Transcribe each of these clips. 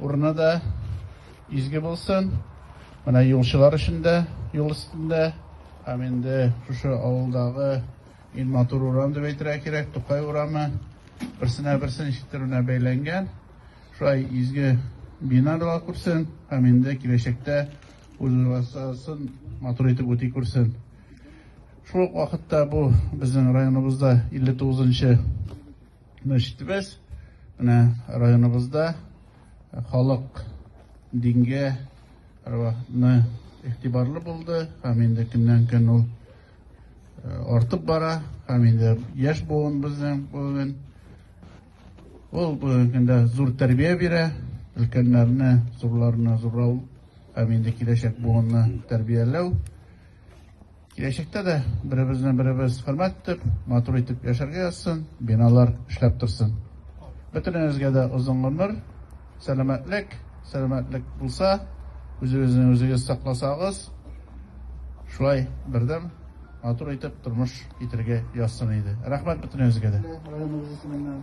Урыны да изге булсын. Менә юлчылар өчен дә юл өстендә һәм инде шушы авылдагы иң матур урам дип әйтергә кирәк, Тукай урамы берсенә берсен ишеттерүенә бәйләнгән. Шулай изге бина дога күрсен һәм инде киләчәктә үзен матур итеп үти күрсен. Шул ук вакытта бу безнең районыбызда 59 нчы Мәчетебез менә районыбызда халык дингә рәвахны игътибарлы булды һәм инде көннән-көн ул артып бара һәм инде яшь буын безнең бүген ул бүгенге көндә зур тәрбия бирә, өлкәннәрне, зурларны зурау һәм инде киләчәк буынны тәрбияләү. Киләчәктә дә беребезне беребез хөрмәт итеп, матур итеп яшәргә язсын, биналар эшләп торсын. Бөтенебезгә дә озын гомер, сәламәтлек, сәламәтлек булса, үзегезне үзегез сакласагыз, шулай бердәм матур итеп тормыш китерергә язсын иде. Рәхмәт бөтенебезгә дә. Районыбыз исеменнән.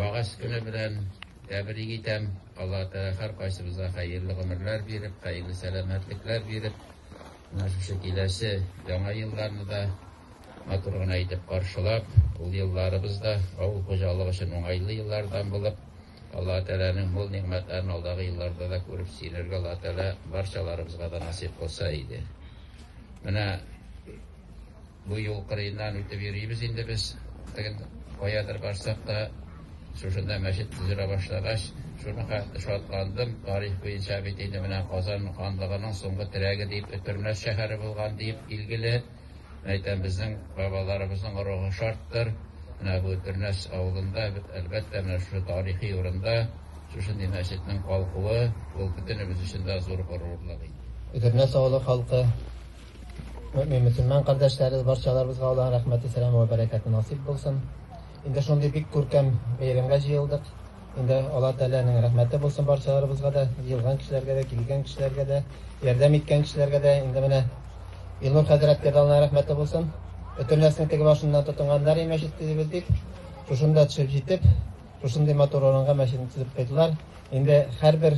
Вәгазь көне белән тәбрик итәм. Алла Тәгалә һәркайсыбызга хәерле гомерләр биреп, хәерле сәламәтлекләр биреп, менә шушы киләсе яңа елларны да матур гына итеп каршылап, ул елларыбыз да авыл хуҗалыгы өчен уңайлы еллардан булып, Алла Тәгаләнең мул нигъмәтләрен алдагы елларда да күреп сөенергә Алла Тәгалә барчаларыбызга да насыйп кылса иде. Менә Бу юл кырыеннан үтеп йөрибез инде без. Тагын каядыр барсак та, шушында мәчет төзелә башлагач, шуны хәтле шатландым. Тарих буенча бит инде менә Казан ханлыгының соңгы терәге дип Өтернәс шәһәре булган диеп билгеле. Мин әйтәм, безнең бабаларыбызның рухы шарттыр. Менә бу Өтернәс авылында, әлбәттә, менә шушы тарихи урында шушындый мәчетнең калкуы, ул бөтенебез өчен дә зур горурлык инде. Өтернәс авылы халкы. Мөмин мөселман кардәшләребез барчаларыбызга Аллаһ рәхмәте, сәлам ва бәрәкәте насыйп булсын. Инде шундый бик күркәм бәйрәмгә җыелдык. Инде Аллаһ Тәгаләнең рәхмәте булсын барчаларыбызга да, җыелган кешеләргә дә, килгән кешеләргә дә, ярдәм иткән кешеләргә дә. Инде менә Илнур хәзрәткә дә Аллаһ рәхмәте булсын. Бөтен нәрсәне теге башыннан тотынганнар и мәчет төзебез дип. Шушында төшеп җитеп, шушындый матур урынга мәчетне төзеп куйдылар. Инде һәрбер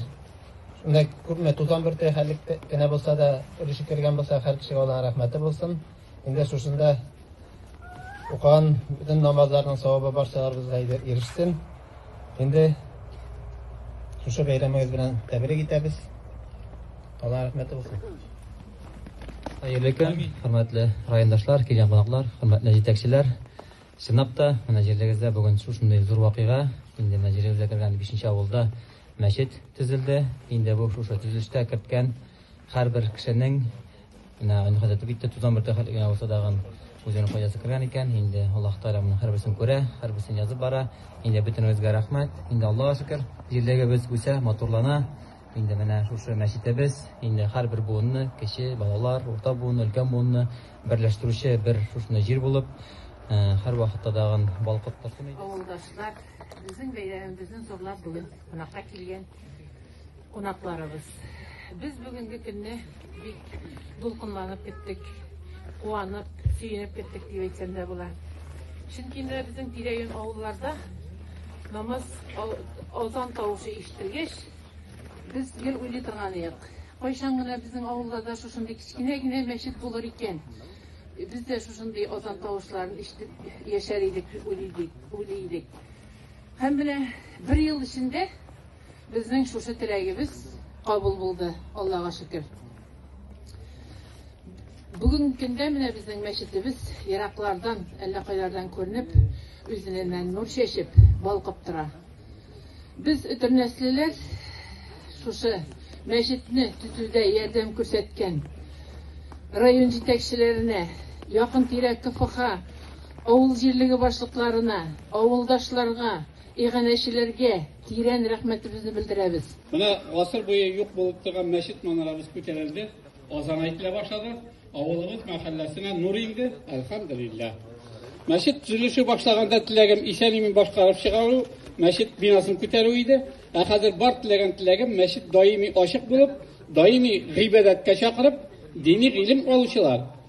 Менә күпме тузан бөрте хәлек кенә булса да өлеше кергән булса, һәр кешегә Аллаһ рәхмәте булсын. Инде шушында укыган бөтен намазларның савабы барчаларыбызга ирешсен. Инде шушы бәйрәмегез белән тәбрик итәбез. Аллаһ рәхмәте булсын. Хәерле көн, хөрмәтле райондашлар, килгән кунаклар, хөрмәтле җитәкчеләр. Чынлап та, менә җирлегездә бүген шушындый зур вакыйга, инде менә җирлегебезгә кергән бишенче авылда мәчет төзелде. Инде бу шушы төзелештә керткән һәрбер кешенең, менә Айнурхан әйтеп китте, тузан бөртеге хәтле генә булса тагын үзенең файдасы кергән икән. Инде Аллаһ Тәгалә моның һәрберсен күрә, һәрберсен язып бара. Инде бөтенебезгә рәхмәт. Инде Аллага шөкер, җирлегебез үсә, матурлана. Инде менә шушы мәчетебез инде һәрбер буынны, кече, балалар, урта буынны, өлкән буынны Берләштерүче бер шушындый җир булып, һәрвакытта тагын балкып торсын иде. Авылдашлар, безнең бәйрәмебезне зурлап бүген кунакка килгән кунакларыбыз. Без бүгенге көнне бик дулкынланып көттек, куанып, сөенеп көттек дип әйтсәм дә була. Чөнки менә безнең тирә-юнь авылларда намаз азан тавышы ишетелгәч, Без гел уйлый торган идек, кайчан гына безнең авылда да шушындый кечкенә генә мәчет булыр икән, без дә шушындый азан тавышларын ишетеп яшәр идек дип уйлый идек, уйлый идек. Һәм менә бер ел эчендә безнең шушы теләгебез кабул булды, Аллага шөкер. Бүген көндә менә безнең мәчетебез ераклардан, әллә кайлардан күренеп, үзеннән нур чәчеп, балкып тора. Без өтернәслеләр шушы мәчетне төзүдә ярдәм күрсәткән район җитәкчеләренә, якын-тирә КФХ, авыл җирлеге башлыкларына, авылдашларга, иганәчеләргә тирән рәхмәтебезне белдерәбез. Менә гасыр буе юк булып торган мәчет манарабыз күтәрелде. Азан әйтелә башлады. Авылыбыз мәхәлләсенә нур инде, әлхәмдулиллаһ. Мәчет төзелеше башлаганда теләгем исән-имин башкарып чыгару, мәчет бинасын күтәрү иде. Ә хәзер бар теләгән теләгем мәчет даими ачык булып, даими гыйбадәткә чакырып, дини гыйлем алучылар,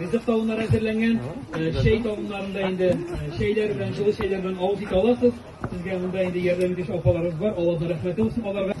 Ризык тавыннары әзерләнгән. Чәй табыннарында инде чәйләр белән, җылы чәйләр белән авыз итә аласыз. Сезгә монда инде ярдәм итүче апаларыбыз бар. Аллаһның рәхмәте булсын аларга.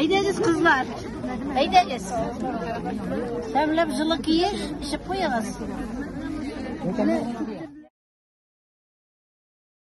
Әйдәгез, кызлар. Әйдәгез. Тәмләп җылы киеш, эчеп куегыз.